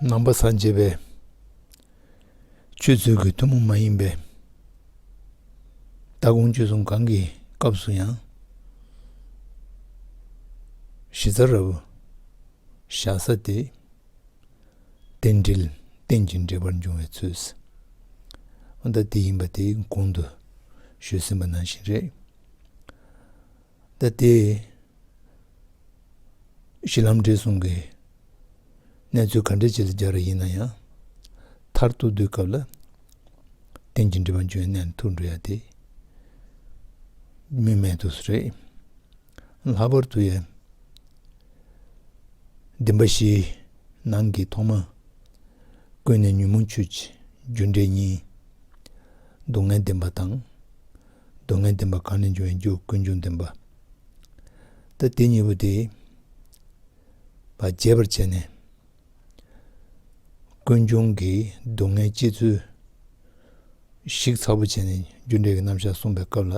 ནང་པ་སངས་རྒྱས་པའི་ཆོས་ཚུལ་གྱི་ཐུན་མོང་མ་ཡིན་པའི་ལྟ་དགོངས་གཅོད་གསུམ་གང་གི་སྐབས་སུ་ཡང་གཞི་རྩ་རབ་བཞག་ས་སྟེ། རྟེན་འབྲེལ་རྟེན་གྱི་འབྲེལ་པར་འབྱུང་བའི་ཚུལ་ཟླ་འདི་ཡིན་པ་དེ་གོང་དུ་ཞུས་ཟིན་པ་ནང་བཞིན་རེད། ལྟ་སྟེ། གཞི་ལམ་འབྲས་གསུམ་གྱི་གནས་ཚུལ་ག་འདྲའི་ཆེད་དུ་སྦྱར་བ་ཡིན་ན་ཡང། མཐར་ཐུག་སྡུད་སྐབས་ལ་རྟེན་ཅིང་འབྲེལ་པ་འབྱུང་བའི་གནད་ནི་ཐུགས་འགྲོ་ཡ་དེ་སྨིན་མའི་དུས་སུ་རེད། ལྷག་པར་དུ་ཡང་བདུན་པ་བཞིའི་ནང་གི་ཐོག་མ་ཀུན་ནས་ཉོན་མོངས་ཆོས་ཀྱི་རྒྱུ་འབྲས་གཉིས་སྡུག་བསྔལ་བདེན་པ་དང། སྡུག་བསྔལ་བདེན་པ་གང་ལས་འབྱུང་བའི་རྒྱུ་ཀུན་འབྱུང་བདེན་པ་ལྟ་སྟེ་གཉིས་པོ་དེས་པ་རྒྱས་པར་བྱས་ནས། ཀུན་འབྱུང་གི་སྡུག་བསྔལ་སྐྱེ་ཚུལ་ཞིག་ཚ་པོ་བྱས་ནས་རྒྱུ་འབྲས་ཀྱི་རྣམ་གཞག་གསུངས་པའི་སྐབས་ལ།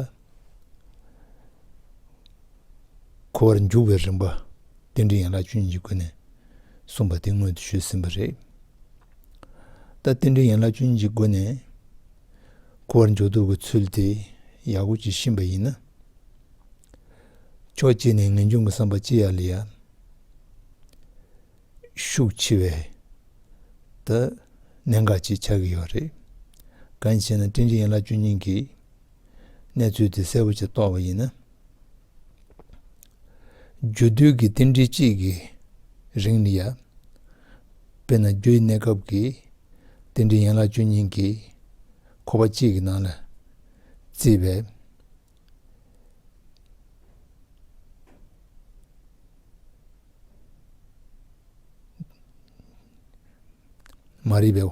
འཁོར་བར་འཇུག་པའི་རིམ་པ་རྟེན་འབྲེལ་ཡན་ལག་བཅུ་གཉིས་ཀྱི་སྒོ་ནས་གསུངས་པ་དེ་སྔོན་དུ་ཞུས་ཟིན་པ་རེད། ལྟ་རྟེན་འབྲེལ་ཡན་ལག་བཅུ་གཉིས་ཀྱི་སྒོ་ནས། ཁུ་བར་འཇོག་ཐུབ་ཀྱི་ཚུལ་དེ་ཡག་པོ་བྱེད་བཞིན་པ་ཡིན་ན། ཕྱོགས་གཅིག་ནས་ངེས་འབྱུང་གི་བསམ་པ་ཅི་ཡག་ལས་ཡག་ཤུགས་ཆེ་བས་ད་གནད་འགག་ཅིག་ཆགས་ཀྱི་ཡོད་རེད། གང་ཞེ་ན་ཀྲིན་ཀྲི་ཡན་ལག་བཅུ་གཉིས་ཀྱིས་གནས་ཚུལ་དེ་གསལ་པོ་ཆེ་རྟོགས་པ་ཡིན་ན། རྒྱུ་དུས་ཀྱི་རྟེན་འབྲེལ་གཅིག་གི་རིང་ནི་ཡ། དཔེར་ན་རྒྱུ་ཡི་གནས་སྐབས་ཀྱི་རྟེན་འབྲེལ་ཡན་ལག་བཅུ་གཉིས་ཀྱིས་འཁོར་བ་གཅིག་གི་ནང་ལ་བརྩིས་པས། མ་རིག་པའི་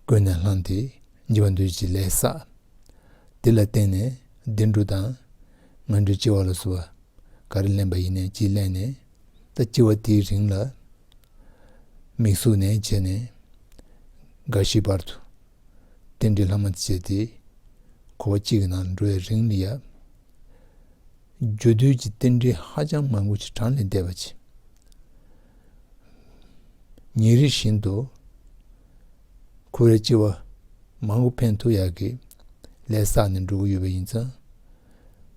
ཀུན་ནས་བསླངས་ཏེ་འཇིག་པར་འདོད་ཀྱི་ལས་བསགས། དེ་ལ་བརྟེན་ནས་བདེ་འགྲོ་དང། ངན་འགྲོའི་ལྕི་བ་ལ་སོགས་པ་ག་རེ་ལེན་པ་ཡིན་ནས་ཅི་གླེང་ནས། ད་ལྕི་བ་དེའི་རིང་ལ་མིག་ཟུག་ནས་བྱས་ནས། འགའ་ཞིག་བར་དུ་རྟེན་འབྲེལ་ལྷག་མ་བྱས་ཏེ། འཁོར་བ་གཅིག་གི་ནང་འགྲོ་བའི་རིང་ལ་ཡབ། རྒྱུ་རྡུལ་གྱི་རྟེན་འབྲེལ་ཧ་ཅང་མང་པོ་ཞིག་གྲངས་ལས་འདས་པ་བྱས། ཉིན་རེ་བཞིན་དུ། ཁོ་རེ་སྐྱེ་བ་མང་པོ་ཕན་ཐོགས་ཡག་གི་ལས་བསགས་ནས་འགྲོ་གི་ཡོད་པ་ཡིན་ཙང།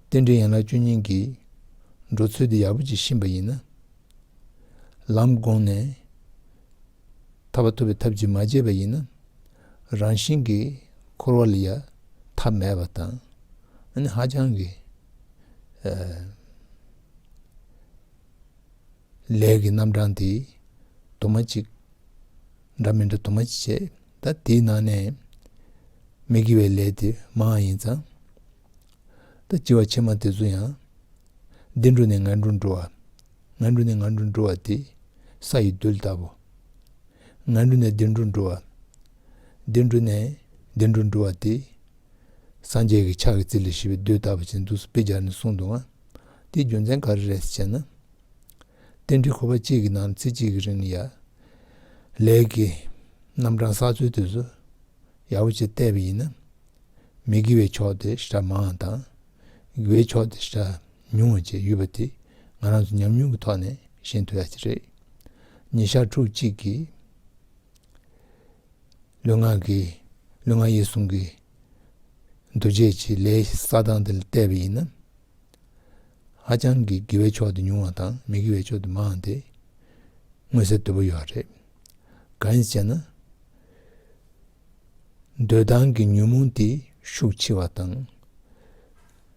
རྟེན་འབྲེལ་ཡན་ལག་བཅུ་གཉིས་ཀྱི་འགྲོ་ཚུལ་འདི་ཡག་པོ་གྱིས་ཕྱིན་པ་ཡིན་ན། ལམ་དགོངས་ནས་ཐར་བ་ཐོབ་པའི་ཐབས་ཀྱིས་མ་བརྗེད་པ་ཡིན་ན། རང་བཞིན་གྱིས་འཁོར་བ་ལ་ཡ་མཐའ་མེད་པ་དང་ཧ་ཅང་གི། ལས་ཀྱི་རྣམ་གྲངས་འདི། དུ་མ་གཅིག། འདྲ་མི་འདྲ་དུ་མ་ཅི་བྱེད་ད་དེའི་ནང་ནས། མི་དགེ་བའི་ལས་དེ་མའང་ཡིན་ཙང། ད་ལྕི་བ་ཕྱི་མ་དེ་ཚོ་ཡང། འདི་འགྲོ་ནས་ང་འགྲོ་འགྲོ་བ། ང་འགྲོ་ནས་ང་འགྲོ་འགྲོ་བ་དེ། ས་ཡི་རྡུལ་ལྟ་བུ། ང་འགྲོ་ནས་འདི་འགྲོ་འགྲོ་བ། འདི་འགྲོ་ནས་འདི་འགྲོ་འགྲོ་བ་དེ། སངས་རྒྱས་ཀྱི་ཕྱག་གི་རྩི་ལས་ཤི་བའི་རྡུལ་ལྟ་བུ་ཅན་དུ་སྤེལ་སྦྱར་ནས་གསུངས་འདུག་ང། དེའི་རྒྱུ་མཚན་ག་རེ་རེད་ཅེ་ན། རྟེན་འབྲེལ་ཁོ་པ་གཅིག་གི་ནང་ཚེ་གཅིག་གི་རིང་ལ་ཡ་ལས་ཀྱི་རྣམ་གྲངས་གསར་འཚོལ་དུས་སུ་ཡག་པོ་བྱེད་བལྟས་པ་ཡིན་ན། མི་དགེ་བའི་ཕྱོགས་དེ་ཧྲ་མང་དང། དགེ་བའི་ཕྱོགས་དེ་ཧྲ་ཉུང་བ་བཅས་ཡོད་པ་དེ་ང་རང་ཚོ་ཉམས་མྱོང་གི་ཐོག་ནས་ཤེས་འདོད་ཡག་ཅིག་རེད། ཉིན་ཞག་ཕྲུགས་གཅིག་གི་ལུས་ངག་གི་ལུས་ངག་ཡིད་གསུམ་གི་འདུ་བྱེད་ཀྱི་ལས་ས་དང་དེ་ལ་བལྟས་པ་ཡིན་ན། ཧ་ཅང་གི་དགེ་བའི་ཕྱོགས་དེ་ཉུང་བ་དང་མི་དགེ་བའི་ཕྱོགས་དེ་མང་སྟེ། མངོན་གསལ་དོད་པོ་ཡོད་པ་རེད། གང་ཞེ་ན། འདོད་སྡང་གི་ཉོན་མོངས་དེ་ཤུགས་ཆེ་བ་དང།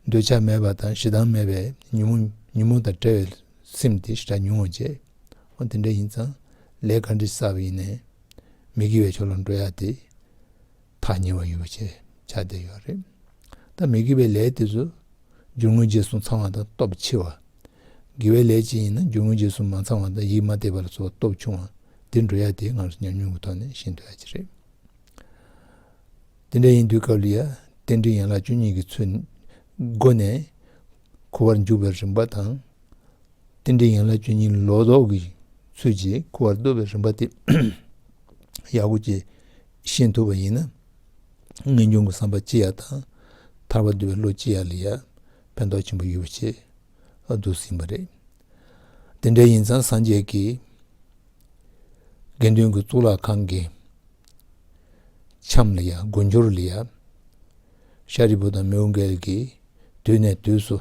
འདོད་ཆགས་མེད་པ་དང་ཞེ་སྡང་མེད་པའི་ཉོན་མོངས་ཉོན་མོངས་དང་བྲལ་བའི་སེམས་དེ་ཧྲ་ཉུང་བ་བྱེད། འོ་དེ་འདྲ་ཡིན་ཙང་ལས་ག་འདྲི་བསགས་པ་ཡིན་ནའི་མི་དགེ་བའི་ཕྱོགས་ལ་འགྲོ་ཡ་སྟེ། ཐག་ཉེ་བ་ཡོད་པ་བྱས་བྱ་བསྡད་ཡོད་རེད་ད་མི་དགེ་བའི་ལས་དེ་ཚོ་རྒྱུ་དངོས་རྗེས་སུ་ཚང་བ་དང་སྟོབས་ཆེ་བ། དགེ་བའི་ལས་ཅིག་ཡིན་ན་རྒྱུ་དངོས་རྗེས་སུ་མ་ཚང་བ་དང་ཡིད་མ་བདེ་བ་ལ་སོགས་སྟོབས་ཆུང་བ་འདི་འགྲོ་ཡ་དེའི་ངང་སོ་ཉམས་མྱོང་གི་ཐོག་ནས་ཤེས་འདོད་ཡ་གྱི་རེད། དེ་འདྲ་ཡིན་དུས་སྐབས་ལ་ཡ་རྟེན་འབྲེལ་ཡན་ལག་བཅུ་གཉིས་ཀྱི་ཚུལ་སྒོ་ནས་ཁུ་བར་འཇུག་པའི་རིམ་པ་དང། རྟེན་འབྲེལ་ཡན་ལག་བཅུ་གཉིས་ལོག་རྟོག་གི་ཚུལ་གྱིས་ཁུ་བར་ལྟོས་པའི་རིམ་པ་དེ་ཡག་པོ་གཅེས་ཤེས་ཐུབ་པ་ཡིན་ན། ངེས་འབྱུང་གི་བསམ་པ་ཅི་ཡག་དང། ཐར་བ་འདོད་པའི་བློ་ཅི་ཡག་ལ་ཡང་ཕན་ཐོགས་ཆེན་པོ་ཡོད་པ་ཆེད་དུ་ཟིན་པ་རེད། དེ་འདྲ་ཡིན་ཙང་སངས་རྒྱས་ཀྱི་དགེ་འདུན་གྱི་གཙུག་ལག་ཁང་གི་ཁྱམས་ལ་ཡང་དགུན་ཆོར་ལ་ཡང་ཤཱ་རིའི་བུ་དང་མོའུ་འགལ་གྱི་དུས་ནས་དུས་སུ་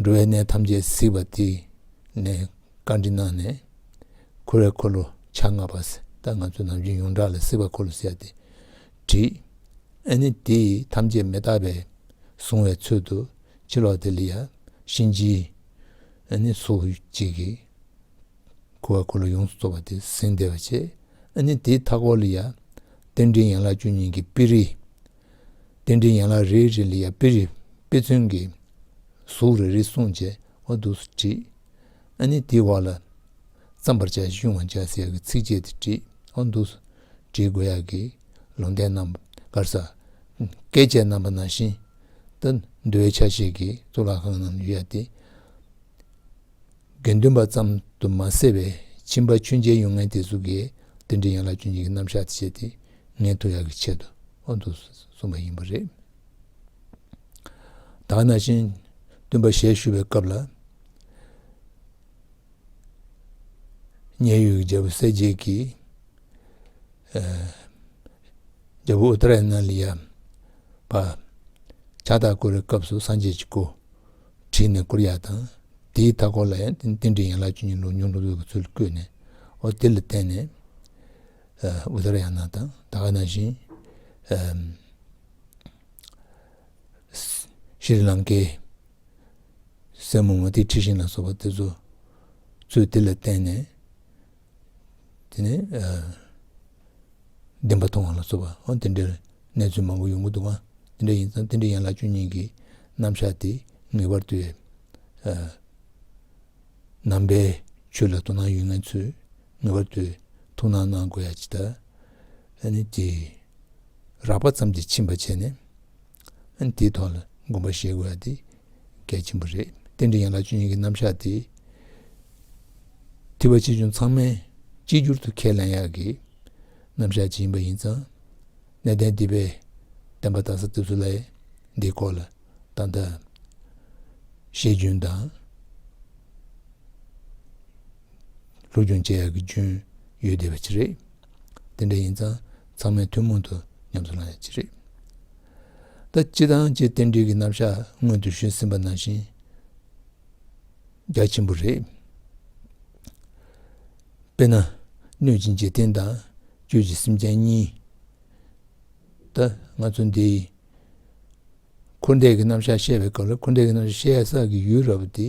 འགྲོ་བའི་གནས་ཐམས་ཅད་གཟིགས་པ་དེ་ནས་བཀའ་འདྲི་གནང་ནས། འཁོར་བའི་འཁོར་ལོ་ཆ་ལྔ་པ་ད་ང་ཚོ་ནམ་རྒྱུན་ཡོངས་གྲགས་ལ་སྲིད་པ་འཁོར་ལོ་ཟེར་ཏེ་དྲིས། ཨེ་ནི་དེ་ཡིས་ཐམས་ཅད་མི་རྟག་པས་བཟུང་བའི་ཚུལ་དུ་ཕྱི་ལོགས་དེ་ལ་ཡང་གཤིན་རྗེའི་ཨེ་ནི་སོ་གཅིག་གིས་འཁོར་བའི་འཁོར་ལོ་ཡོངས་སུ་རྫོགས་པ་དེ་ཟིན་བདེ་བར་བྱས། ཨེ་ནི་དེའི་མཐའ་སྐོར་ལ་ཡང་རྟེན་འབྲེལ་ཡན་ལག་བཅུ་གཉིས་ཀྱི་དཔེ་རིས། རྟེན་འབྲེལ་ཡན་ལག་རེ་རེ་ལ་ཡང་དཔེ་རིས་དཔེ་མཚོན་གྱི་གཟུགས་རེ་རེ་གསུངས་བྱས་འོ་འདུག་དྲིས། ཨ་ནི་དེའི་བར་ལ་བརྩམ་པར་བྱ་ཞེས་དབྱུང་བར་བྱ་ཟེར་གྱི་ཚིགས་བཅད་དེ་བྲིའོ། འདུག་སོ། བྲིས་དགོས་ཡག་གི། ལུང་བསྟན་རྣམ་དཀར་ས། བཀས་བཅད་རྣམ་པ་ན་བཞིན་དུ། འདུལ་བའི་ཆ་ཤས་ཀྱི་གཙུག་ལག་ཁང་རྣམས་ཡོད་ཡ་སྟེ། དགེ་འདུན་པ་ཙམ་དུ་མ་ཟད་པའི་ཁྱིམ་པ་ཆོས་མཇལ་ཡོང་མཁན་དེ་ཚོ་དགེ་འདུན་གྱི་ཡན་ལག་གཅུན་གཅིག་གི་རྣམ་གཞག་དེ་བྱས་ཏེ་ངེས་ཐུགས་ཡག་གི་ཆེད་དུའོ། འདུག་གསུངས་པ་ཡིན་པ་རེད། དག་ན་ཅིང། སྟོན་པ་ཞལ་བཤུས་པའི་སྐབས་ལ། མཉན་ཡོད་ཀྱི་རྒྱལ་པོ་གསལ་རྒྱལ་གྱིས། རྒྱལ་པོ་ཨུཏྤལ་ནཱི་ལི་ཡ་བར། ཕྱག་རྟགས་བསྐོར་བའི་སྐབས་སུ་སངས་རྒྱས་ཀྱི་སྐུ། བྲིས་ནས་བསྐོར་ཡག་དང། དེའི་མཐའ་སྐོར་ལ་ཡང་རྟེན་འབྲེལ་ཡན་ལག་བཅུ་གཉིས་ལུགས་ཉུང་འགྲོ་འདུལ་གྱི་ཚུལ་བཀོད་ནས། འོ་དེ་ལ་བརྟེན་ནས། ཨུཏྤལ་ཡང་ན་དང་དག་ན་ཅིང། ཤྲཱི་ལང་ཀའི་སྲས་མོ་མུ་ཏི་ཁྲི་ཤིང་ལ་སོགས་པ་དེ་ཚོ་ཚུལ་དེ་ལ་བརྟེན་ནས་དེ་ནས་བདེན་པ་མཐོང་བ་ལ་སོགས་པ་འོ་དེ་འདྲའི་གནས་ཚུལ་མང་པོ་ཡོང་གི་འདུག་ཨང་དེ་འདྲ་ཡིན་ཙང་དེ་འདྲའི་ཡན་ལག་བཅུ་གཉིས་ཀྱི་རྣམ་གཞག་དེ་ངེས་པར་དུ་ནང་པའི་ཆོས་ལ་དོ་སྣང་ཡོད་ངེས་ཚུལ་ངེས་པར་དུ་ཐུགས་སྣང་གནང་དགོས་ཡ་ཇི་ལྟར་ནི་ཀྱི། རགས་པ་ཙམ་གྱིས་ཕྱིན་པ་བྱས་ནས་ནི་དེའི་ཐོག་ལ་དགོངས་པ་བཞེས་དགོས་ཡ་དེ་གལ་ཆེན་པོ་རེད། རྟེན་འབྲེལ་ཡན་ལག་བཅུ་གཉིས་ཀྱི་རྣམ་གཞག་དེ་ཐི་བ་ཆེ་ཆུང་ཚང་མས་གཅིག་གྱུར་དུ་ཁས་ལེན་ཡག་གི་རྣམ་གཞག་ཅིག་ཡིན་པ་ཡིན་ཙང་གནས་བརྟན་དེ་བས་བསྟན་པ་དང་ས་ཐིབས་སུ་ལའི་འདིའི་སྐོར་ལ་ཏག་ཏག་ཤེས་རྒྱུན་དང། ལུགས་འབྱུང་བཅས་ཀྱི་རྒྱུན་ཡོད་བསྡད་པའི་ཕྱིར་རེད། དེ་འདྲ་ཡིན་ཙང་ཚང་མས་ཐུན་མོང་དུ་ཉམས་སུ་བླངས་ཡོད་པའི་ཕྱིར་རེད། ད་སྤྱི་དང་སྤྱི་རྟེན་སྒྲིག་གི་རྣམ་གཞག་སྔོན་དུ་ཞུས་ཟིན་པ་ནང་བཞིན་རྒྱ་ཆེན་པོ་རེད། དཔེར་ན། སྣོད་ཀྱི་འཇིག་རྟེན་དང་བཅུད་ཀྱི་སེམས་ཅན་གཉིས། ད་ང་ཚོ་འདིས་འཁོར་འདས་ཀྱི་རྣམ་གཞག་བཤད་པའི་སྐབས་ལ་འཁོར་འདས་ཀྱི་རྣམ་གཞག་བཤད་ས་ཀྱི་ཡུལ་ར་བ་དེ་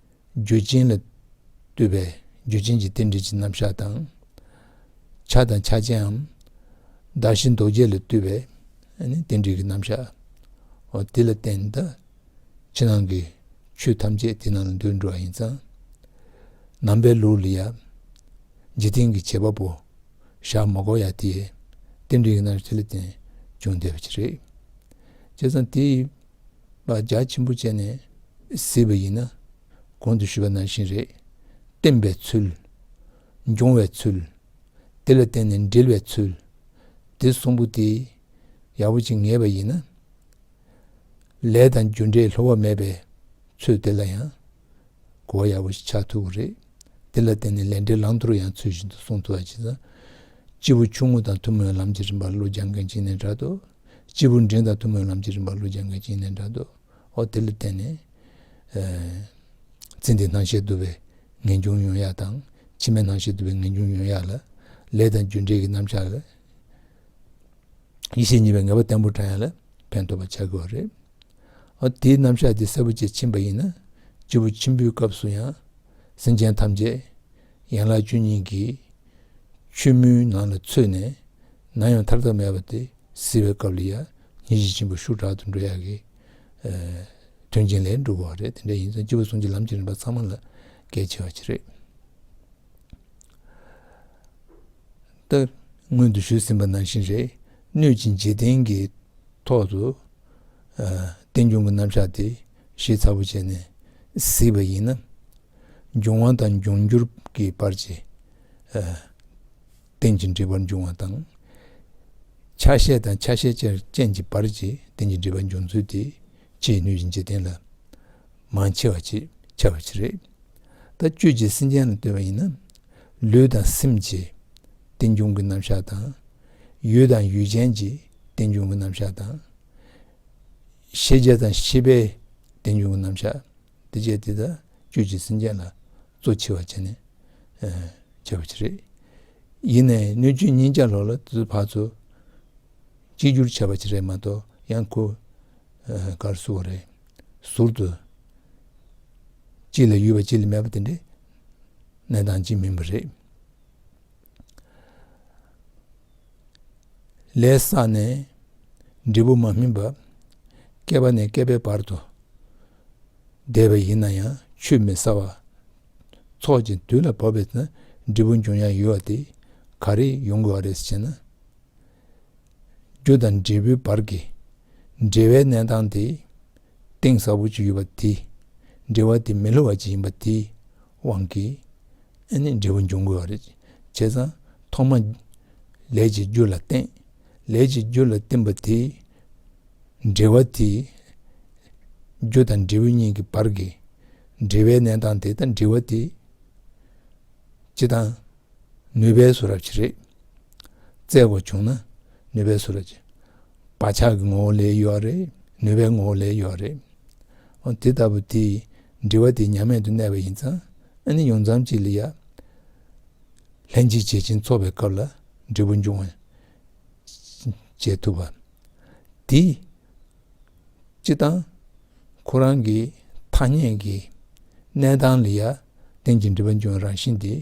རྒྱུ་ཅན་ལ་ལྟོས་པའི་རྒྱུ་ཅན་གྱི་རྟེན་འབྲེལ་གྱི་རྣམ་གཞག་དང། ཆ་དང་ཆ་ཅན་འམ། བདག་གཞན་རྡོ་རྗེ་ལ་ལྟོས་པའི་རྟེན་འབྲེལ་གྱི་རྣམ་གཞག་གོ། དེ་ལ་བརྟེན་ད་ཕྱི་ནང་གི་ཆོས་ཐམས་ཅད་དེ་རྣམས་ལ་འདུས་འགྲོ་བ་ཡིན་ཙང། ནང་པའི་ལུགས་ལ་ཡང། འཇིག་རྟེན་གྱི་བྱེད་པ་པོ་ཞག་མ་གོ་ཡང་དེའི་རྟེན་འབྲེལ་གྱི་རྣམ་གཞག་དེ་ལ་བརྟེན་ཅུང་བདེ་བ་ཞིག་རེད། བྱས་ཙང་དེའི། ལ་རྒྱ་ཆེན་པོ་བྱས་ནས་གཟིགས་པ་ཡིན་ན་གོང་དུ་ཞུས་པ་ནང་བཞིན་རེད། བསྟན་པའི་ཚུལ། འབྱུང་བའི་ཚུལ། དེ་ལ་བརྟེན་ནས་འབྲེལ་བའི་ཚུལ། འདི་གསུམ་པོ་དེ་ཡག་པོ་བྱེད་ངེས་པ་ཡིན་ན། ལས་དང་རྒྱུ་འབྲས་ལྷོད་བ་མེད་པའི་ཚུལ་དེ་ལ་ཡང་གོ་བ་ཡག་པོ་ཞིག་ཆགས་ཐུབ་པ་རེད། དེ་ལ་བརྟེན་ནས་ལས་འབྲས་བླང་དོར་ཡང་ཚུལ་བཞིན་དུ་སྲུང་ཐུབ་པ་བྱས་ཙང། སྤྱི་བོ་ཆུང་ངུ་དང་ཐུན་མོང་ལམ་གྱི་རིམ་པར་བློ་སྦྱང་མཁན་གཅིག་ནས་འདྲ་དུ་སྤྱི་བོར་འབྲིང་དང་ཐུང་མོའི་ལམ་གྱི་རིམ་པ་ཀླུ་བྱང་གི་བྱིན་ལེན་དྲག་ཏུ་འོ་དེ་ལ་བརྟེན་ནས། ཚེ་འདིའི་སྣང་ཤེས་བསྡུ་བའི་ངེས་འབྱུང་ཡོན་ཡག་དང་ཕྱི་མའི་སྣང་ཤེས་བསྡུ་བའི་ངེས་འབྱུང་ཡོན་ཡག་ལ། ལས་དང་རྒྱུ་འབྲས་ཀྱི་རྣམ་གཞག་ལ། ཡེ་ཤེས་གཉིས་པའི་ངེས་པ་བརྟན་པོར་བགྲང་ཡག་ལ་ཕན་ཐོགས་པར་བྱ་དགོས་པ་རེད། འོ་དེའི་རྣམ་གཞག་དེ་གསལ་པོ་བཅས་ཕྱིན་པ་ཡིན་ན། སྤྱི་བོ་ཆེན་པོའི་སྐབས་སུ་ཡང། སེམས་ཅན་ཐམས་ཅད། ཡན་ལག་བཅུ་གཉིས་ཀྱི་ཆུ་མོའི་ནང་ལ་ཚུད་ནས་ན་ཡང་ཐར་ཐབས་མེད་པ་དེ་བཟི་བའི་སྐབས་ལ་ཡང་ཉིན་བཞིན་ཕྱིན་པ་ཤུགས་དྲག་ཏུ་འགྲོ་ཡག་གི་དོན་ཆེན་ལས་འགྲུབ་བ་རེད་དེ་འདྲ་ཡིན་ཙང་སྤྱི་བོ་ཟུང་གི་ལམ་གྱི་རིམ་པ་ཚང་མ་ལ་གལ་ཆེ་བ་ཅིག་རེད། ད་སྔོན་དུ་ཞུས་ཟིན་པ་ནང་བཞིན་རེད་གནོད་སྦྱིན་འཇིག་རྟེན་གྱི་ཐོག་ཏུ་རྟེན་འབྱུང་གི་རྣམ་གཞག་དེ། ཞེས་ཚ་པོ་བྱས་ནས་གཟིགས་པ་ཡིན་ན། འབྱུང་བ་དང་འབྱུང་འགྱུར་གྱི་བར་གྱི་རྟེན་ཅིང་འབྲེལ་བར་འབྱུང་བ་དང། ཆ་ཤས་དང་ཆ་ཤས་ཅན་གྱི་བར་གྱི་རྟེན་ཅིང་འབྲེལ་བར་འབྱུང་ཚུལ་དེ་ཅིའི་ནུས་ཀྱིས་འཇིག་རྟེན་ལ་མ་ཕྱེ་བ་ཅིས་ཕྱེ་བར་བྱེད། རེག་དང་བཅུད་ཀྱིས་སེམས་ཅན་ལ་ལྟོས་པ་ཡིན་ན། ལུས་དང་སེམས་ཀྱི་རྟེན་འབྱུང་གི་རྣམ་གཞག་དང། ཡུལ་དང་ཡུལ་ཅན་གྱི་རྟེན་འབྱུང་གི་རྣམ་གཞག་དང། ཤེས་བྱ་དང་ཤེས་པའི་བདེ་འཇུག་གི་རྣམ་གཞག་འདི་བཅས་འདི་དག་བཅུད་ཀྱི་སེམས་ཅན་ལ་གཙོ་ཆེ་བར་བྱས་ནས་བྱ་བ་ཅི་རེད། ཡིན་ནའི་སྣོད་བཅུད་ཉིད་བྱ་ལོག་ལ་དེ་ཚོའི་བར་དུ་གཅིག་གྱུར་བྱ་བ་ཅི་རེད་མ་གཏོགས་ཡང་ཁུ་ཁར་བསུ་བ་རེད། ཟུར་དུ་གཅིག་ལ་ཡུལ་བ་གཅིག་ལ་མེད་པ་དེ་འདྲའི་གནས་སྟངས་ཅིག་མིན་པ་རེད། ལས་བསགས་ནས་འབྲས་བུ་མ་སྨིན་པ་བསྐལ་པ་ནས་བསྐལ་པའི་བར་དུ་འདས་པ་ཡིན་ན་ཡང་ཆུད་མི་ཟ་བར་ཚོགས་ཀྱི་དུས་ལ་བབ་པས་ན་འབྲས་བུ་འབྱུང་ཡང་ཡོད་དེ་ག་རེ་ཡོང་དགོས་བ་རེད་ཅེ་ན། རྒྱུ་དང་འབྲས་བུའི་བར་གྱི་འབྲེལ་བའི་གནས་སྟངས་དེ་གཏིང་ཟབ་པོ་ཅིག་ཡོད་པ་དེ་འབྲེལ་བ་དེ་མི་སླུ་བ་ཅིག་ཡིན་པ་དེ་དབང་གིས་ནི་འབྲས་བུ་འབྱུང་དགོས་པ་རེད། བྱས་ཙང་ཐོག་མ་ལས་ཀྱི་རྒྱུ་ལ་བརྟེན། ལས་ཀྱི་རྒྱུ་ལ་བརྟེན་པ་དེའི་འབྲེལ་བ་དེ། རྒྱུ་དང་འབྲས་བུ་གཉིས་ཀྱི་བར་གྱི་འབྲེལ་བའི་གནས་སྟངས་དེ་དང་འབྲེལ་བ་དེ། ཅི་དང། ནུས་པའི་སུ་རབ་ཀྱི་རེད། བཙལ་དགོས་བྱུང་ན་ནུས་པའི་སུ་རབ་ཀྱི། བག་ཆགས་ཀྱི་ངོ་བོ་ལས་གཡོས་པ་རེད། ནུས་པའི་ངོ་བོ་ལས་གཡོས་པ་རེད། འོ་དེ་ལྟ་བུ་དེའི་འབྲེལ་བ་དེ་ཉམས་མེད་དུ་གནས་པ་ཡིན་ཙང་ཨ་ནེ་ཡོངས་ཙམ་གྱིས་ལི་ཡ་ལྷན་གཅིག་བྱེད་ཅིང་འཚོ་བའི་སྐབས་ལ་འབྲས་བུ་འབྱུང་བར་བྱེད་ཐུབ་པ། དེ་སྤྱི་དང། ཁོ་རང་གི་ཐ་སྙད་ཀྱི་གནས་དང་ལི་ཡ་སྟེང་གི་འབྲེལ་པ་འབྱུང་བའི་རང་བཞིན་དེ།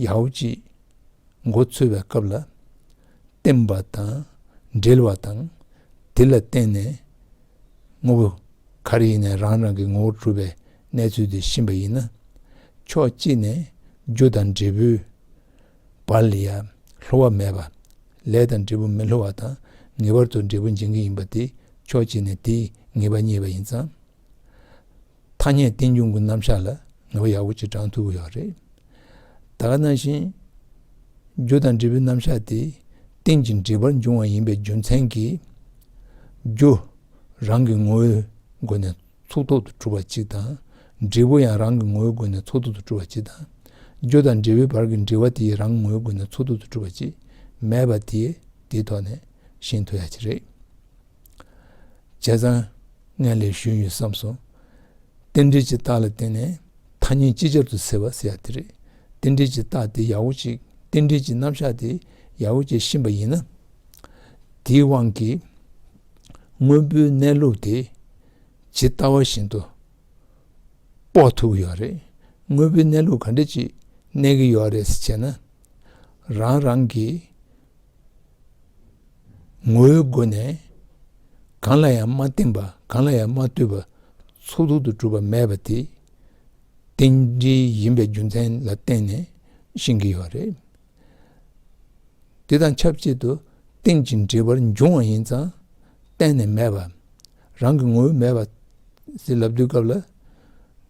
ཡའོ་གཅིག། མགོ་ཚོས་པའི་སྐབས་ལ་བརྟེན་པ་དང་འབྲེལ་བ་དང། དེ་ལ་བརྟེན་ནས་ངོ་བོ་གར་ཡིན་ནས་རང་རང་གི་ངོ་བོར་གྲུབ་པའི་གནས་ཚུལ་དེ་ཤིན་པ་ཡིན་ན། ཕྱོགས་གཅིག་ནས་རྒྱུ་དང་འབྲས་བུའི་བར་ལ་ཡང་ལྷོ་བ་མེད་པ། ལས་དང་འབྲས་བུ་མི་ལྷོ་བ་དང་ངེས་པར་དུ་འབྲས་བུ་འབྱིན་གྱི་ཡིན་པ་དེ་ཕྱོགས་གཅིག་ནས་དེའི་ངེས་པ་རྙེད་པ་ཡིན་ཙང། ཐ་སྙད་རྟེན་འབྱུང་གི་རྣམ་གཞག་ལ་ངེས་པ་ཡག་པོ་གཅིག་དྲངས་ཐུབ་ཀྱི་ཡོད་རེད། ད་ག་ནང་བཞིན། རྒྱུ་དང་འབྲས་བུའི་རྣམ་གཞག་དེ་རྟེན་གྱི་འབྲེལ་པར་འབྱུང་བ་ཡིན་པའི་རྒྱུ་མཚན་གྱིས། རྒྱུ་རང་གི་ངོ་བོའི་སྒོ་ནས་ཚུགས་ཐོག་ཏུ་གྲུབ་པ་གཅིག་དང། འབྲས་བུ་ཡང་རང་གི་ངོ་བོའི་སྒོ་ནས་ཚུགས་ཐོག་ཏུ་གྲུབ་པ་གཅིག་དང། རྒྱུ་དང་འབྲས་བུའི་བར་གྱི་འབྲེལ་བ་དེའི་རང་ངོའི་སྒོ་ནས་ཚུགས་ཐོག་ཏུ་གྲུབ་པ་གཅིག་མེད་པ་དེ་དེའི་ཐོག་ནས་ཤེས་ཐུབ་ཡ་གཅིག་རེད། བྱས་ཙང་ངས་ལས་ཞུས་ཡོད་བསམ་སོང། རྟེན་འབྲེལ་གྱི་རྟགས་ལ་བརྟེན་ནས་ཐ་སྙད་ཅིག་ཅར་དུ་ཟེར་བ་ཟེར་ཡག་དེ་རེད། རྟེན་འབྲེལ་གྱི་རྟགས་དེ་ཡག་བོ་ཅིག་རྟེན་འབྲེལ་གྱི་རྣམ་གཞག་དེ་ཡག་བོ་ཅིག་ཕྱིན་པ་ཡིན་ན། དེའི་དབང་གིས་དངོས་པོའི་གནས་ལུགས་དེ་ཇི་ལྟ་བ་བཞིན་དུ་དཔོག་ཐུབ་ཀྱི་ཡོད་རེད། དངོས་པོའི་གནས་ལུགས་ག་འདྲ་ཅིག་གནས་ཀྱི་ཡོད་རེད་ཅེ་ན། རང་རང་གིས་ངོ་བོའི་སྒོ་ནས་གང་ལ་ཡང་མ་བརྟེན་པ་གང་ལ་ཡང་མ་ལྟོས་པར་ཚོགས་དྲུག་ཏུ་གྲུབ་པ་མེད་པ་དེ་རྟེན་འབྲེལ་ཡིན་པའི་རྒྱུ་མཚན་ལ་བརྟེན་ནས་བཞེངས་ཀྱི་ཡོད་རེད། དེ་དང་ཆབས་ཅིག་ཏུ་རྟེན་ཅིང་འབྲེལ་བར་འབྱུང་བ་ཡིན་ཙང་གཏན་ནས་མེད་པ་རང་གི་ངོ་བོ་མེད་པ་ཟིལ་ལབ་དུས་སྐབས་ལ་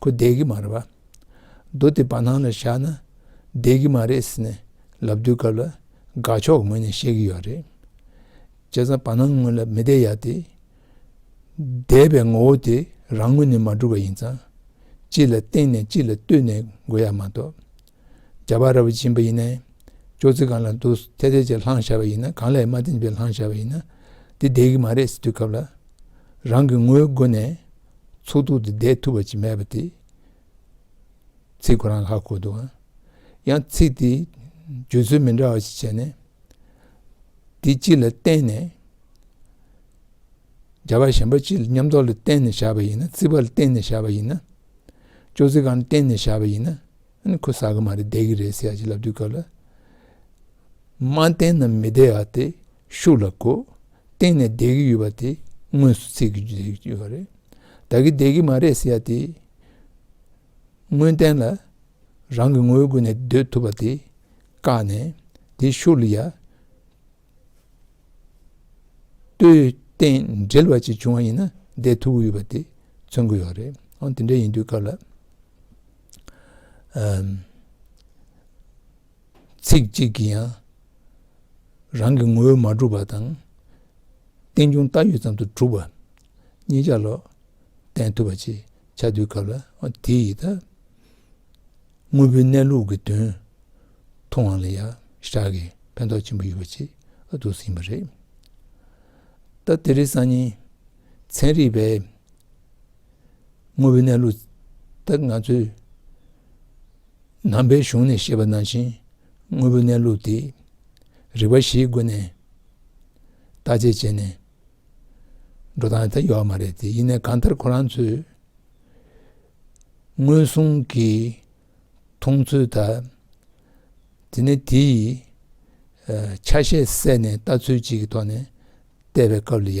ཁོ་བསྡད་ཀྱི་མ་རེད་པ། རྡོ་དེ་བར་སྣང་ལ་བཞག་ན་བསྡད་ཀྱི་མ་རེད་ཟེར་ནས་ལབ་དུས་སྐབས་ལ་དགའ་ཕྱོགས་ངོས་ནས་བཤད་ཀྱི་ཡོད་རེད། བྱས་ཙང་བར་སྣང་ངོས་ལ་མི་བསྡད་ཡ་དེ། བསྡད་པའི་ངོ་བོ་དེ་རང་ངོས་ནས་མ་གྲུབ་པ་ཡིན་ཙང། གཅིག་ལ་བརྟེན་ནས་གཅིག་ལ་བསྟུན་ནས་དགོས་ཡ་མ་གཏོགས། སྦྱར་བ་ར་བའི་སྦྱིན་པ་ཡིན་ནས། ཅོག་ཙེ་གང་ལ་འདུག་ཚད་ཚད་ཅིག་ལྷང་བཞག་པ་ཡིན་ན་གང་ལས་མ་བསྟན་པའི་ལྷང་བཞག་པ་ཡིན་ན་འདི་བསྡད་ཀྱི་མ་རེད་ཟེར་དུས་སྐབས་ལ་རང་གི་ངོའི་སྒོ་ནས་ཚུགས་ཐུབ་ཏུ་བསྡད་ཐུབ་པ་ཅིག་མེད་པ་དེ། ཚིག་གོ་རང་ཧ་གོ་འདུག་ཨང། ཡང་ཚིག་དེ་བརྗོད་ཚུལ་མི་འདྲ་བ་ཞིག་བྱས་ནས། འདི་སྤྱི་ལ་བརྟེན་ནས་སྦྱར་བ་གཞན་པ་སྤྱི་ལ་ཉམས་རྟོགས་ལ་བརྟེན་ནས་བཞག་པ་ཡིན་ན་ཚིག་པ་ལ་བརྟེན་ནས་བཞག་པ་ཡིན་ན། ཅོག་ཙེ་གང་ལ་བརྟེན་ནས་བཞག་པ་ཡིན་ན། ཁོས་ཟ་གི་མ་རེད་བསྡད་གི་རེད་ཟེར་ཞེས་ལབ་དུས་སྐབས་ལ། མ་བསྟན་ན་མི་བདེ་བ་དེ་ཤུགས་ལ་གོ། བསྟན་ནས་བསྡད་གི་ཡོད་པ་དེ་དངོས་སུ་ཚིག་གིས་བརྗོད་ཀྱི་ཡོད་པ་རེད། བདག་གིས་བསྡད་གི་མ་རེད་ཟེར་དེ། དངོས་བསྟན་ལ་རང་གི་ངོ་བོའི་སྒོ་ནས་སྡོད་ཐུབ་པ་དེ་བཀག་ནས་དེ་ཤུགས་ལ་ཡལ། ལྟོས་བསྟན་འགྲེལ་བ་ཅིག་བྱུང་བ་ཡིན་ན་བསྡད་ཐུབ་ཀྱི་ཡོད་པ་དེ་མཚོན་གྱི་ཡོད་རེད། འོན་ཏེ་འདྲ་ཡིན་དུས་སྐབས་ལ། ཚིག་གཅིག་གིས་ཡང་རང་གི་ངོ་བོས་མ་གྲུབ་པ་དང། རྟེན་འབྱུང་བཏགས་ཡོད་ཙམ་དུ་གྲུབ་པ་གཉིས་ཆ་ལོག་བསྟན་ཐུབ་པ་ཅིག་ཆ་དུས་སྐབས་ལ་དེ་ཡིས་དངོས་པོའི་གནས་ལུགས་ཀྱི་དོན་མཐོང་བ་ལ་ཡང་ཤར་གྱི་ཕན་ཐོགས་ཆེན་པོ་ཡོད་པ་ཅིག་འདུག་ཟིན་པ་རེད། ད་དེ་རིགས་གསར་རྙིང་ཚན་རིག་པས་དངོས་པོའི་གནས་ལུགས་དེ་ང་ཚོས་ནང་པའི་གཞུང་ནས་བཤད་པ་ནང་བཞིན་དངོས་པོའི་གནས་ལུགས་དེ་རིག་པ་བཞིའི་སྒོ་ནས་བརྟག་དཔྱད་བྱས་ནས་འགྲོ་སྟངས་དེ་ཡོད་མ་རེད་དེ་ཡིན་ན་གང་ལྟར་ཁོ་རང་ཚོས་ངོས་བཟུང་གི་མཐོང་ཚུལ་དག་དེ་ནི་དེ་ཡི་ཆ་ཤས་བསལ་ནས་ལྟ་ཚུལ་གཅིག་གི་ཐོག་ནས་བལྟས་པའི་སྐབས་ལ་ཡ་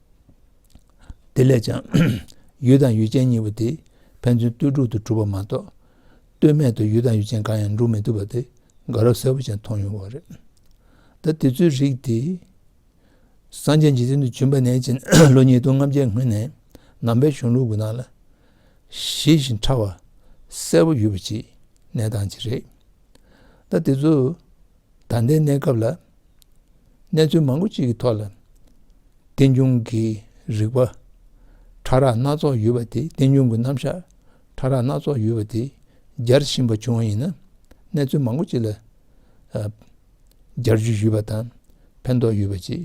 དེ་ལས་ཀྱང། ཡུལ་དང་ཡུལ་ཅན་གཉིས་པོ་དེ་ཕན་ཚུན་ལྟོས་གྲུབ་ཏུ་གྲུབ་པ་མ་གཏོགས། ལྟོས་མེད་དུ་ཡུལ་དང་ཡུལ་ཅན་གང་ཡང་འགྲུབ་མི་ཐུབ་པ་དེ་དགའ་རོགས་གསལ་པོ་ཅན་མཐོང་ཡོང་བ་རེད། ད་དེ་ཚོའི་རིགས་དེ། སངས་རྒྱས་འཇིག་རྟེན་དུ་བྱོན་པ་ནས་ཕྱིན་ལོ་ཉིས་སྟོང་ལྔ་བརྒྱའི་སྔོན་ནས་ནང་པའི་གཞུང་ལུགས་ཀྱི་ནང་ལ། ཞི་བཞིན་ཕྲ་བ་གསལ་པོ་ཡོད་པ་ཅིག་གནས་སྟངས་ཅིག་རེད། ད་དེ་ཚོ་ད་ལྟའི་གནས་སྐབས་ལ། གནས་ཚུལ་མང་པོ་གཅིག་གི་ཐོག་ལ་རྟེན་འབྱུང་གི་རིག་པ་ཕྲ་རགས་སྣ་ཚོགས་ཡོད་པ་དེ་རྟེན་འབྱུང་གི་རྣམ་གཞག་ཕྲ་རགས་སྣ་ཚོགས་ཡོད་པ་དེ་སྦྱར་བཞིན་པ་བྱུང་བ་ཡིན་ན་གནས་ཚུལ་མང་པོ་གཅིག་ལ་སྦྱར་རྒྱུ་ཞུས་པ་དང་ཕན་ཐོགས་ཡོད་པ་ཅིག་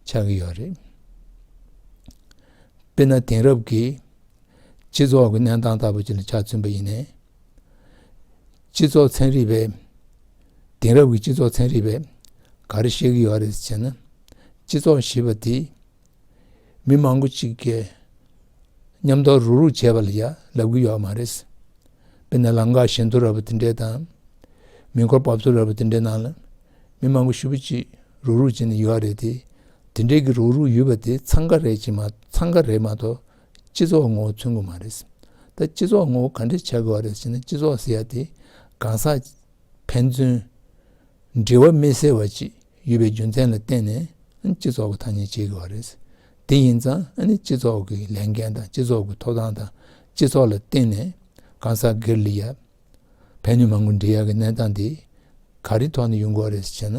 ཆགས་ཀྱི་ཡོད་རེད། དཔེར་ན་དེང་རབས་ཀྱི་སྤྱི་ཚོགས་ཀྱི་གནས་སྟངས་ལྟ་བུ་ཅིག་ལ་ཆགས་ཚུན་པ་ཡིན་ནས། སྤྱི་ཚོགས་ཚན་རིག་པས། དེང་རབས་ཀྱི་སྤྱི་ཚོགས་ཚན་རིག་པས་ག་རེ་བཤད་ཀྱི་ཡོད་རེད་ཅེ་ན། སྤྱི་ཚོགས་ཞེས་པ་དེ་མི་མང་པོ་གཅིག་གིས་མཉམ་གཏོར་རུག་རུག་བྱས་པ་ལ་ཡང་ལབ་ཀྱི་ཡོད་མ་རེད། དཔེར་ན་ལམ་ཁ་ཞན་ཐུར་ར་བ་དེ་འདྲས་དང། མེ་འཁོར་འབབ་ཚུགས་ར་བ་དེ་འདྲའི་ནང་ལ་མི་མང་པོ་ཧྲིལ་པོ་གཅིག་རུག་རུག་བྱས་ནས་ཡོད་རེད་དེ། དེ་འདྲས་ཀྱི་རུག་རུག་ཡོད་པ་དེ་འཚང་ཁ་རེད་མ་གཏོགས། སྤྱི་ཚོགས་ངོ་བོ་མཚོན་གི་མ་རེད། ད་སྤྱི་ཚོགས་ངོ་བོ་ག་འདྲས་བྱ་དགོས་བ་རེད་ཟེར་ན་སྤྱི་ཚོགས་ཟེར་ཡ་དེ་གང་ཟག་ཕན་ཚུན་འབྲེལ་བ་མི་གསལ་བ་ཅིག་ཡོད་པའི་རྒྱུ་མཚན་ལ་བརྟེན་ནས་སྤྱི་ཚོགས་ཀྱི་ཐ་སྙད་བྱེད་དགོས་བ་རེད། དེ་ཡིན་ཙང་སྤྱི་ཚོགས་ཀྱི་ལས་འགན་དང་སྤྱི་ཚོགས་ཀྱི་ཐོབ་ཐང་དང་སྤྱི་ཚོགས་ལ་བརྟེན་ནས་གང་ཟག་སྒེར་ལས་ཡ་ཕན་ནུས་མང་པོ་འབྲེལ་ཡ་གི་གནས་སྟངས་དེ་ག་རེའི་ཐོག་ནས་ཡོང་དགོས་བ་རེད་ཟེར་ན།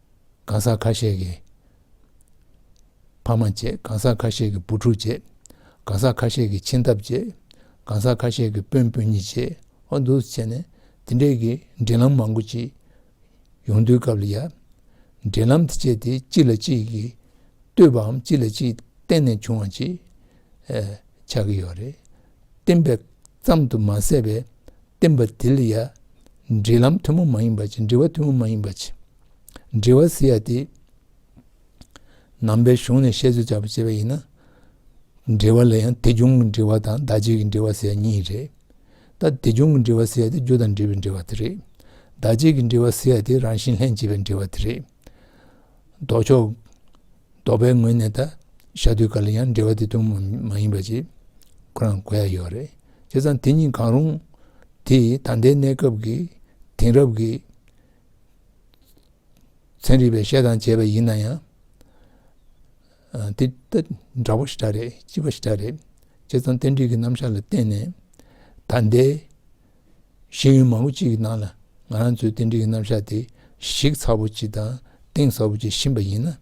གང་ཟག་ཁ་ཤས་ཀྱི་ཕ་མ་བརྗེ། གང་ཟག་ཁ་ཤས་ཀྱི་བུ་ཕྲུག་བརྗེ། གང་ཟག་ཁ་ཤས་ཀྱི་ཁྱིམ་ཐབ་བརྗེ། གང་ཟག་ཁ་ཤས་ཀྱི་སྤུན་སྤུན་ཉེ་བརྗེ། ཨ་འདུག་བྱས་ནས་དེ་འདྲས་ཀྱི་འབྲེལ་ལམ་མང་པོ་ཅིག་ཡོང་དུས་སྐབས་ལ་ཡ། འབྲེལ་ལམ་དེ་བཅས་དེ་གཅིག་ལ་གཅིག་གིས་ལྟོས་པའམ་གཅིག་ལ་གཅིག་བརྟེན་ནས་བྱུང་བ་ཅིག་ཆགས་ཀྱི་ཡོད་རེད། བརྟེན་པའི་ཙམ་དུ་མ་ཟད་པའི་བསྟན་པ་འདི་ལ་ཡང་འབྲེལ་ལམ་ཐུན་མོང་མ་ཡིན་པ་ཅི་འབྲེལ་བ་ཐུན་མོང་མ་ཡིན་པ་ཅི། འབྲེལ་བ་ཟེར་ཡ་དེ། ནང་པའི་གཞུང་ནས་བཤད་ཚུལ་བྱ་བ་བྱས་པ་ཡིན་ན། འབྲེལ་བ་ལ་ཡང་དེ་བྱུང་གི་འབྲེལ་བ་དང་བདག་བྱེད་ཀྱི་འབྲེལ་བ་ཟེར་ཡ་གཉིས་རེད། ད་དེ་བྱུང་གི་འབྲེལ་བ་ཟེར་ཡ་དེ་རྒྱུ་དང་འབྲེལ་བའི་འབྲེལ་བ་དེ་རེད། བདག་བྱེད་ཀྱི་འབྲེལ་བ་ཟེར་ཡ་དེ་རང་བཞིན་ལྷན་སྐྱེས་པའི་འབྲེལ་བ་དེ་རེད། ལྡོག་ཕྱོགས། ལྡོག་པའི་ངོས་ནས་ད་ཞག་དུས་འགའ་ལ་ཡང་འབྲེལ་བ་དེ་དུ་མ་མ་ཡིན་པ་ཞིག་ཁོ་རང་གོ་ཡ་ཡོད་རེད། བྱས་ཙང་དེ་གཉིས་གང་རུང་དེ་ད་ལྟའི་གནས་སྐབས་ཀྱི་དེང་རབས་ཀྱི་ཚན་རིག་པས་བཤད་དང་བྱས་པ་ཡིན་ན་ཡང། དེ་ད་འདྲ་བོ་ཞིག་འདྲ་རེད་ལྕི་བ་ཞིག་འདྲ་རེད། བྱས་ཙང་རྟེན་འབྲེལ་གྱི་རྣམ་གཞག་ལ་བརྟེན་ནས་ད་ལྟའི་ཤེས་ཡོན་མང་པོ་གཅིག་གི་ནང་ལ་ང་རང་ཚོའི་རྟེན་འབྲེལ་གྱི་རྣམ་གཞག་དེ་གཞིག་ཚ་བོ་གཅིག་དང་གཏིང་ཟབ་བོ་གཅིག་ཕྱིན་པ་ཡིན་ན།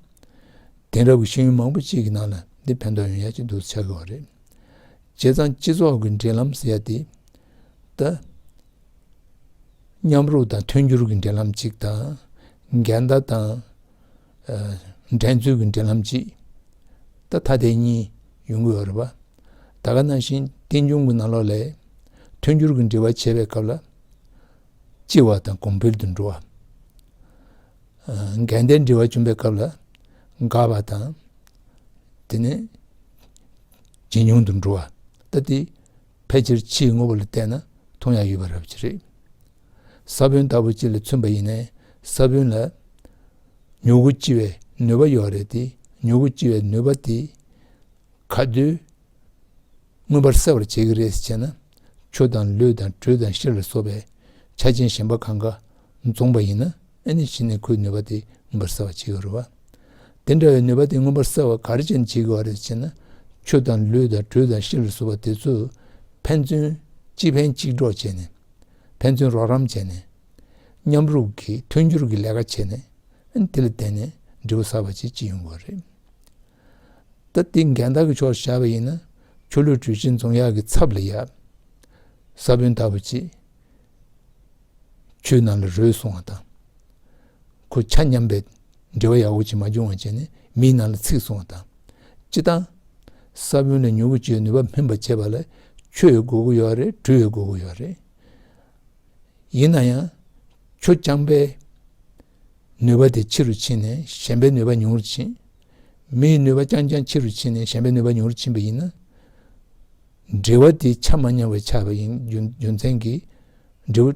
དེང་རབས་ཀྱི་ཤེས་ཡོན་མང་པོ་གཅིག་གི་ནང་ལ་འདི་ཕན་ཐོགས་ཡོང་ཡ་གཅིག་འདུག་ཟེར་ཆགས་དགོས་བ་རེད། བྱས་ཙང་སྤྱི་ཚོགས་ཀྱི་འབྲེལ་ལམ་ཟེར་ཡ་དེ་ད། མཉམ་རུབ་དང་མཐུན་འགྱུར་གྱི་འབྲེལ་ལམ་གཅིག་དང། འགལ་ཟླ་དང་འགྲན་རྩོད་ཀྱི་འབྲེལ་ལམ་གཅིག་ད་ཐ་དད་གཉིས་ཡོང་གི་ཡོད་རེད་བ། ད་ག་ན་བཞིན་རྟེན་འབྱུང་གི་ནང་ལོགས་ལས། མཐུན་འགྱུར་གྱི་འབྲེལ་བ་བྱེད་པའི་སྐབས་ལ། ལྕི་བ་དང་གོང་འཕེལ་དུ་འགྲོ་བ། འགལ་ཟླའི་འབྲེལ་བ་བྱུང་པའི་སྐབས་ལ། འགག་པ་དང། དེ་ནས། ཇེ་ཉུང་དུ་འགྲོ་བ། ལྟ་སྟེ། ཕལ་ཆེར་ཕྱིའི་དངོས་པོ་ལ་བལྟས་ན་མཐོང་ཡ་ཡོད་པ་རབ་ཆེ་རེད། ས་བོན་ལྟ་བུ་གཅིག་ལ་མཚོན་པ་ཡིན་ནས་ས་བོན་ལ། མྱུ་གུ་ལྕི་བའི་ནུས་པ་ཡོད་རེད་དེ་མྱུ་གུ་ལྕི་བའི་ནུས་པ་དེ། ག་དུས་མངོན་པར་གསལ་བར་བྱེད་ཀྱི་རེད་ཅེ་ན། ཆུ་དང་ལུད་དང་དྲོད་དང་གཤེར་ལ་སོགས་པའི་ཆ་ཅན་གཞན་པ་གང་ག་འཛོམས་པ་ཡིན་ན་ཨེ་ནི་ཕྱི་ནས་ཁོའི་ནུས་པ་དེ་མངོན་པར་གསལ་བར་བྱེད་ཀྱི་རུ་བ། དེ་འདྲ་བའི་ནུས་པ་དེ་མངོན་པར་གསལ་བར་གར་ཅན་བྱེད་ཀྱི་བ་རེད་ཅེ་ན། ཆུ་དང་ལུད་དང་དྲོད་དང་གཤེར་ལ་སོགས་པ་དེ་ཚོས་ཕན་ཚུན་གཅིག་ཕན་གཅིག་གྲོགས་བྱས་ནས། ཕན་ཚུན་རོགས་རམ་བྱས་ནས། མཉམ་རུབ་ཀྱིས་མཐུན་སྦྱོར་གྱི་ལས་ཀ་བྱས་ནས། དེ་ལ་བརྟེན་ནས་འབྲས་བུ་གསར་བ་ཅིག་སྐྱེ་ཡོང་གི་བ་རེད། ད་ལྟའི་འགལ་ཟླ་གི་ཕྱོགས་སུ་བཞག་པ་ཡིན་ན་ཆུ་ལུད་དྲུས་ཆེན་རྫོང་གཡག་གི་ཚབ་ལ་ཡབ། ས་བོན་ལྟ་བུ་ཅིག་ཆུའི་ནང་ལ་རོལ་སོང་བ་དང། ཁོ་ཆ་མཉམ་པའི་འབྲེལ་བ་ཡག་པོ་ཅིག་མ་བྱུང་བ་བྱས་ནས་མིའི་ནང་ལ་ཚིག་སོང་བ་དང། སྤྱི་བཏང། ས་བོན་ལ་མྱུ་གུ་བཅོས་ནུས་པ་སྨིན་པར་བྱེད་པ་ལ་ཆུ་ཡི་དགོས་མཁོ་ཡོད་རེད་དྲུས་ཡི་དགོས་མཁོ་ཡོད་རེད། ཡིན་ན་ཡང་ཆུ་རྐྱང་པའི་ནུས་པ་དེ་ཕྱི་རུ་ཕྱིན་ནས་གཞན་པའི་ནུས་པ་ཉུང་རུ་ཕྱིན་མིའི་ནུས་པ་རྐྱང་རྐྱང་ཕྱི་རུ་ཕྱིན་ནས་གཞན་པའི་ནུས་པ་ཉུང་རུ་ཕྱིན་པ་ཡིན་ན། འབྲེལ་བ་དེ་ཆ་མ་མཉམ་བའི་ཆ་བ་ཡིན་རྒྱུ་མཚན་གྱིས། འབྲས་བུ།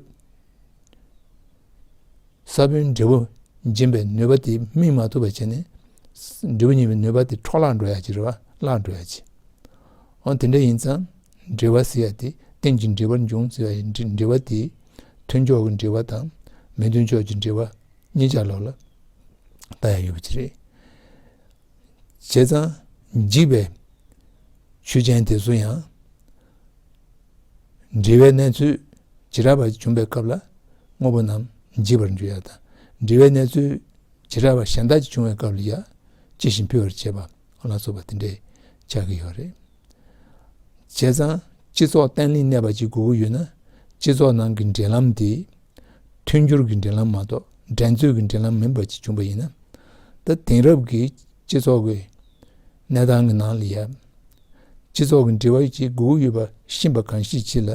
ས་བོན་འབྲས་བུ་འབྱིན་པའི་ནུས་པ་དེ་སྨིན་མ་ཐུབ་པར་བྱས་ནས། འབྲས་བུ་རྙེད་པའི་ནུས་པ་དེ་འཕྲོ་བརླག་འགྲོ་ཡ་ཇི་རེ་བ་བརླག་འགྲོ་ཡ་ཇི། འོན་དེ་འདྲ་ཡིན་ཙང་འབྲེལ་བ་ཟེར་ཡ་དེ་གཏན་གྱི་འབྲེལ་བར་འབྱུང་ཟེར་བ་ཡིན་འབྲེལ་བ་དེ་མཐུན་ཕྱོགས་ཀྱི་འབྲེལ་བ་དང་མི་མཐུན་ཕྱོགས་ཀྱི་འབྲེལ་བ། གཉིས་ཀྱང་ལོག་ལ་ལྟ་ཡང་ཡོད་པ་ཅི་རེད། བྱས་ཙང་འཇིག་པའི་ཆོས་ཅན་དེ་ཚོ་ཡང་འབྲེལ་བའི་གནས་ཚུལ་ཇི་རགས་པ་བྱུང་པའི་སྐབས་ལ་དངོས་པོ་རྣམས་འཇིག་པར་འགྱུར་ཡག་དང་འབྲེལ་བའི་གནས་ཚུལ་ཇི་རགས་པ་གཞན་དག་ཅིག་བྱུང་བའི་སྐབས་ལ་ཡང་ཅི་བཞིན་ཕུལ་བར་བྱེད་པ་ལ་སོགས་པ་དེ་འདྲས་ཆགས་ཀྱི་ཡོད་རེད། བྱས་ཙང་སྤྱི་ཚོགས་བརྟན་བརླིང་གནས་པ་ཞིག་དགོས་ཀྱི་ཡོད་ན་སྤྱི་ཚོགས་ནང་གི་འབྲེལ་ལམ་དེ་མཐུན་འགྱུར་གྱི་འབྲེལ་ལམ་མ་གཏོགས་འགྲན་རྩོད་ཀྱི་འབྲེལ་ལམ་མིན་པ་ཞིག་བྱུང་བ་ཡིན་ན། ད་དེང་རབས་ཀྱི་སྤྱི་ཚོགས་ཀྱི་གནས་སྟངས་ཀྱི་ནང་ལ་ཡང་སྤྱི་ཚོགས་ཀྱི་འབྲེལ་བ་ཞིག་དགོས་ཀྱི་ཡོད་པ་ཤེས་པ་གང་ཞིག་མཆིས་ལ།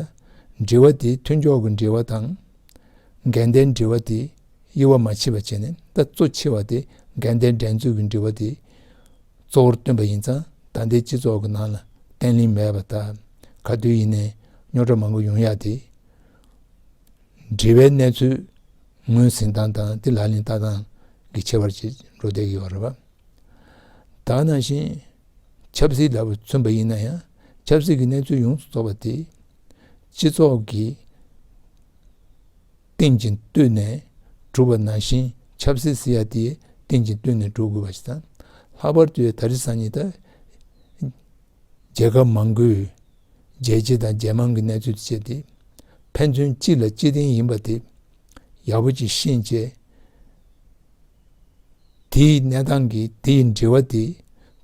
འབྲེལ་བ་དེ་མཐུན་ཕྱོགས་ཀྱི་འབྲེལ་བ་དང། འགལ་ཟླའི་འབྲེལ་བ་དེ་དབྱེ་བ་མ་ཕྱེ་བ་བྱས་ནས་ད་གཙོ་ཆེ་བ་དེ་འགལ་ཟླའི་འགྲན་རྩོད་ཀྱི་འབྲེལ་བ་དེ་གཙོ་བོར་བཏོན་པ་ཡིན་ཙང་ད་ལྟའི་སྤྱི་ཚོགས་ཀྱི་ནང་ལ་བརྟན་བརླིང་མེད་པ་ལྟར་ག་དུས་ཡིན་ནའི་རྙོག་གྲ་མང་པོ་ཡོང་ཡག་སྟེ། འབྲེལ་བའི་གནས་ཚུལ་ངོས་ཟིན་སྟངས་དང་དེ་ལག་ལེན་བསྟར་སྟངས་ཀྱི་ཁྱད་པར་ཅིག་འགྲོ་བསྡད་ཀྱི་ཡོད་རེད་པ། དག་ནང་བཞིན་ཆབ་སྲིད་ལ་མཚོན་པ་ཡིན་ན་ཡང་ཆབ་སྲིད་ཀྱི་གནས་ཚུལ་ཡོངས་སུ་རྫོགས་པ་དེས་སྤྱི་ཚོགས་ཀྱི། རྟེན་ཅིང་བསྟུན་ནས་བསྒྲུབ་པ་ནང་བཞིན་ཆབ་སྲིད་སི་ཡ་དེ་རྟེན་ཅིང་བསྟུན་ནས་བསྒྲུབ་དགོས་པ་ཞིག་དང། ལྷག་པར་དུ་ད་རི་སང་ཉིད་ད་རྒྱལ་ཁབ་མང་པོའི་རྒྱལ་གཅེས་དང་རྒྱལ་དམངས་ཀྱི་གནས་ཚུལ་དུ་ཆེད་དེ་ཕན་ཚུན་གཅིག་ལ་གཅིག་རྟེན་ཡིན་པ་དེ་ཡག་པོ་ཅིག་ཤེས་བྱས། དེའི་གནས་སྟངས་ཀྱི་དེའི་འབྲེལ་བ་དེ་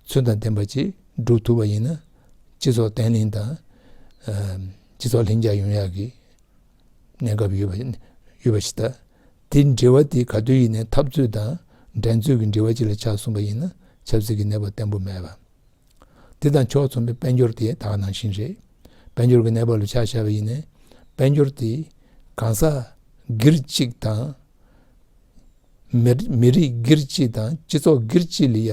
ཚུལ་དང་ལྡན་པ་ཅིག་བསྒྲུབ་ཐུབ་པ་ཡིན་ན་སྤྱི་ཚོགས་བརྟན་ལྷིང་དང། སྤྱི་ཚོགས་ལྷིང་འཇགས་ཡོང་ཡག་གི། གནས་སྐབས་ཡོད་པ་ཡོད་པ་ཞིག་ལྟ། དེ་འབྲེལ་བ་དེ་ག་དུས་ཡིན་ནའི་འཐབ་རྩོད་དང་འགྲན་རྩོད་ཀྱི་འབྲེལ་བ་ཅིག་ལ་ཆགས་གསུངས་པ་ཡིན་ན་ཆབ་སྲིད་ཀྱི་གནས་བབ་བརྟན་པོ་མེད་པ། དེ་དང་ཕྱོགས་མཚུངས་པའི་དཔལ་འབྱོར་དེ་དག་ནང་བཞིན་རེད། དཔལ་འབྱོར་གྱི་གནས་བབ་ལ་ཆ་བཞག་པ་ཡིན་ནའི་དཔལ་འབྱོར་དེ་གང་ཟག་སྒེར་གཅིག་དང། མི་རིགས་སྒེར་གཅིག་དང་སྤྱི་ཚོགས་སྒེར་གཅིག་ལ་ཡ་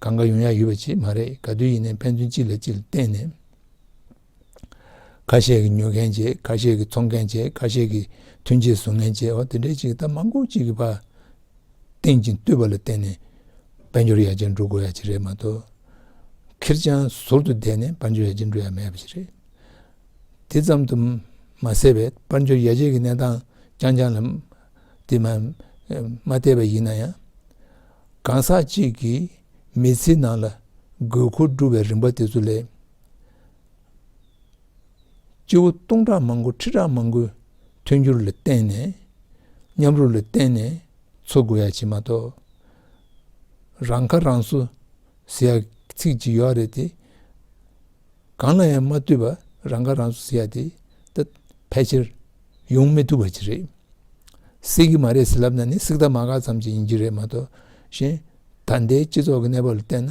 གང་གང་ཡོང་ཡ་ཡོད་པ་ཅིག་མ་རེད་ག་དུས་ཡིན་ནའི་ཕན་ཚུན་གཅིག་ལ་གཅིག་བརྟེན་ནས། ཁ་ཤས་ཀྱིས་ཉོ་མཁན་བྱེད་ཁ་ཤས་ཀྱིས་འཚོང་མཁན་བྱེད་ཁ་ཤས་ཀྱིས་ཐོན་ཆས་བཟོ་མཁན་བྱེད་འོ་དེ་འདྲའི་ཅིག་ད་མང་པོ་གཅིག་གི་བར་སྟེང་ཅིང་བསྟུད་པ་ལ་བརྟེན་ནས་དཔལ་འབྱོར་ཡར་རྒྱས་འགྲོ་དགོས་ཡ་ཅིག་རེད་མ་གཏོགས་ཁེར་རྐྱང་ཟུར་དུ་བསྡད་ནས་དཔལ་འབྱོར་ཡར་རྒྱས་འགྲོ་ཡ་མེད་པ་ཞིག་རེད། དེ་ཙམ་དུ་མ་ཟད་པའི་དཔལ་འབྱོར་ཡར་རྒྱས་ཀྱི་གནས་སྟངས་རྐྱང་རྐྱང་ལ་དེ་མ་བལྟས་པ་ཡིན་ན་ཡང། གང་ཟག་གཅིག་གི་མི་ཚེའི་ནང་ལ་དགོས་མཁོ་བསྒྲུབ་པའི་རིམ་པ་དེ་ཚོ་ལས། སྐྱེ་བོ་སྟོང་ཕྲག་མང་པོ་ཁྲི་ཕྲག་མང་པོའི་མཐུན་འགྱུར་ལ་བརྟེན་ནས་མཉམ་རུབ་ལ་བརྟེན་ནས་འཚོ་དགོས་ཡ་བྱེད་མ་གཏོགས། རང་ཁ་རང་གསོ་ཟེར་ཡ་ཚིག་ཅིག་ཡོད་རེད་དེ། གང་ལ་ཡང་མ་ལྟོས་པར་རང་ཁ་རང་གསོ་ཟེར་ཡ་དེ་ད་ཕལ་ཆེར་ཡོང་མི་ཐུབ་པ་ཅིག་རེད། སྲིད་གི་མ་རེད་ཟེར་ལབ་ན་ནི་སྲིད་གདའ་མ་ག་ཙམ་ཅིག་ཡིན་རྒྱུ་རེད་མ་གཏོགས། གཞན་ད་ལྟའི་སྤྱི་ཚོགས་ཀྱི་གནས་བབ་ལ་བལྟས་ན།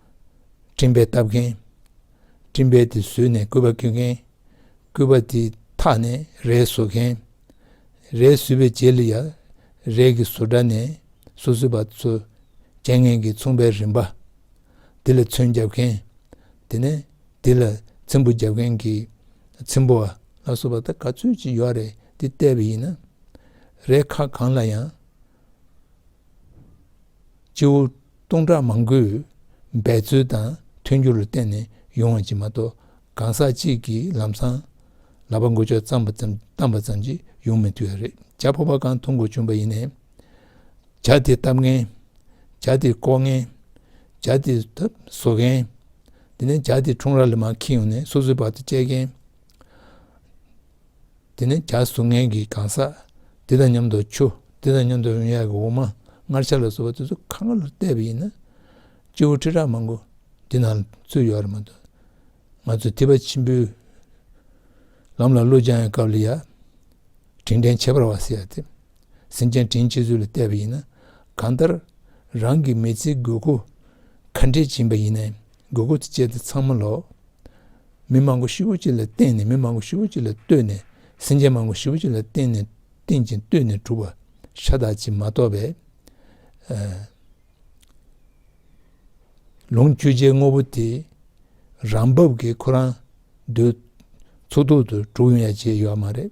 སྤྲིན་པས་བཏབ་མཁན། སྤྲིན་པས་དེ་བཟོས་ནས་སྐུད་པ་སྐྱོན་མཁན། སྐུད་པ་དེ་འཐག་ནས་རས་བཟོ་མཁན། རས་བཟོས་པའི་རྗེས་ལ་ཡང་རས་ཀྱི་བཟོ་གྲྭ་ནས་སོ་བཟོས་པ་ཚོས་རྒྱལ་ངན་གྱིས་མཚུངས་པའི་རིན་པ་དེ་ལ་ཚོན་བརྒྱབ་མཁན། དེ་ནས་དེ་ལ་ཚིམ་བུ་བརྒྱབ་མཁན་གྱིས་ཚིམ་བུ་བ། ལ་སོགས་པ་དག་ག་ཚོད་ཅིག་ཡོད་རེད་འདི་བལྟས་པ་ཡིན་ན། རས་ཁ་གང་ལ་ཡང་སྤྱི་བོ། སྟོང་ཕྲག་མང་པོས་འབད་རྩོལ་དང་མཐུན་འགྱུར་ལ་བརྟེན་ནས་ཡོང་བ་གཅིག་མ་གཏོགས་གང་ཟག་གཅིག་གིས་ལམ་སང་ལག་པ་འགུལ་ཆོག་བརྩམས་པ་ཙམ་བཏང་པ་ཙམ་གྱིས་ཡོང་མི་འཐུས་པ་རེད་བྱ་ཕོ་བ་གང་འཐུང་དགོས་བྱུང་བ་ཡིན་ནས་བྱ་དེ་བཏབ་མཁན་བྱ་དེ་བརྐོ་མཁན་བྱ་དེ་བཟོ་མཁན་དེ་ནས་བྱ་དེ་འཁྲུངས་ར་ལ་མ་ཁྱེར་ཡོང་ནས་སོ་སོའི་བར་དུ་བཅད་མཁན། དེ་ནས་གྱ་གཟུགས་ངན་གྱི་གང་ཟག་དེ་དང་མཉམ་དུ་ཆུ་དེ་དང་མཉམ་དུ་འོན་ཡག་གི་འོ་མ་སྔར་ཆར་ལ་བཟོ་བ་དེ་ཚོ་ཁ་ངར་ལ་བལྟས་པ་ཡིན་ན་སྤྱི་བོ་ཁྲི་ཕྲག་མང་པོ་འདི་ན་ཚུད་ཡོད་རེད་མ་གཏོགས་ང་ཚོ་ཐིབ་པ་ཆེན་པོའི་ལམ་ལ་བློ་སྦྱང་ཡང་སྐབས་ལ་ཡ་དྲིན་དྲན་བྱེད་པར་བ་ཟེར་ཡག་དེ་སེམས་ཅན་དྲིན་བྱེད་ཚུལ་ལ་བལྟས་པ་ཡིན་ན་གང་ལྟར་རང་གི་མི་ཚེའི་དགོས་མཁོ་ག་འདྲས་སྦྱིན་པ་ཡིན་ན་དགོས་མཁོ་ཆེ་དེ་ཚང་མ་ལོག། མི་མང་པོ་བཞི་བོ་གཅིག་ལ་བརྟེན་ནས་མི་མང་པོ་བཞི་བོ་གཅིག་ལ་ལྟོས་ནས་སེམས་ཅན་མང་པོ་བཞི་བོ་གཅིག་ལ་བརྟེན་ནས་བརྟེན་ཅིང་ལྟོས་ནས་གྲུབ་པ་ཤ་སྟག་ཅིག་མ་རྟོགས་པས། ལོངས་སྤྱོད་ཆའི་དངོས་པོ་དེ་རང་བབས་ཀྱི་ཁོ་རང་འདོད་ཚོགས་རྟོག་ཏུ་གྲུག་ཡོང་ཡ་བྱས་ཡོད་མ་རེད།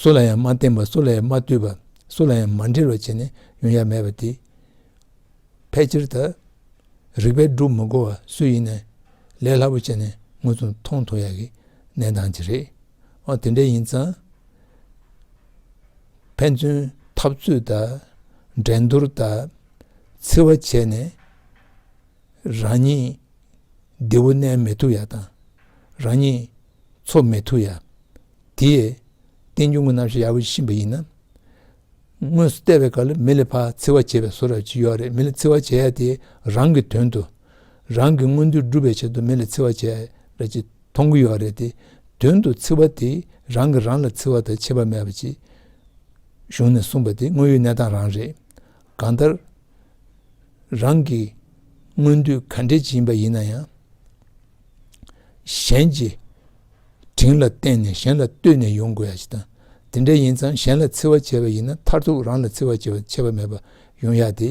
སུ་ལ་ཡང་མ་བསྟན་པ་སུ་ལ་ཡང་མ་བསྟོད་པ་སུ་ལ་ཡང་མ་འབྲེལ་བར་བྱས་ནས་ཡོན་ཡ་མེད་པ་དེ་ཕལ་ཆེར་དུ་རིགས་པས་བསྒྲུབ་མི་དགོས་པ་སུ་ཡིན་ནས་ལས་སླ་པོ་བྱས་ནས་ངོས་ཚུར་མཐོང་ཐོས་ཡག་གི་གནས་སྟངས་ཅིག་རེད་ཨོ་དེ་འདྲ་ཡིན་ཙང་ཕན་ཚུན་འཐབ་རྩོད་དང་འགྲན་བསྡུར་དང་འཚེ་བ་བྱས་ནས་རང་ཉིད་བདེ་བོ་གནས་མི་ཐུབ་ཡག་དང་རང་ཉིད་ཚོགས་མེད་ཐུགས་ཡ། དེས། བསྟན་འགྱུར་དངོས་རྣམ་ཤེས་ཡར་བུད་ཕྱིན་པ་ཡིན་ན། དངོས་སུ་བལྟས་པའི་སྐབས་ལ་མི་ལས་ཕ་ཚིལ་བ་བྱེད་པའི་བཟོ་ར་ཅི་ཡོད་རེད་མི་ལས་ཚིལ་བ་བྱས་དེ་རང་གི་དོན་དུ། རང་གི་མངོན་འདོད་སྒྲུབ་པའི་ཆེད་དུ་མི་ལས་ཚིལ་བ་བྱས་ར་ཅི་མཐོང་གི་ཡོད་རེད་དེ་དོན་དུ་ཚིལ་བ་དེ་རང་གིས་རང་ལ་ཚིལ་བ་དང་ཆད་པ་མེད་པ་ཅེས། གཞུང་ནས་གསུངས་པ་དེ་དངོས་ཡོད་གནས་སྟངས་རང་རེད། གང་ལྟར། རང་གི་མངོན་འདོད་ག་འདྲའི་ཅི་ཡིན་པ་ཡིན་ན་ཡང། གཞན་གྱི་དྲིན་ལ་བརྟེན་ནས་གཞན་ལ་ལྟོས་ནས་ཡོང་དགོས་ཡ་ཞིག་དང། དེ་འདྲ་ཡིན་ཙང་གཞན་ལ་འཚེ་བ་བྱས་པ་ཡིན་ན་མཐར་ཐུག་རང་ལ་འཚེ་བ་བྱེད་པ་ཆད་པ་མེད་པ་ཡོང་ཡ་སྟེ།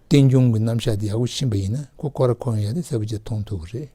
རྟེན་འབྱུང་གི་རྣམ་གཞག་དེ་ཡག་པོ་ཕྱིན་པ་ཡིན་ན་ཁོ་ཁོ་ར་ཁོ་ཡོང་ཡ་དེ་གསལ་པོ་བཅས་མཐོང་ཐུབ་པ་རེད།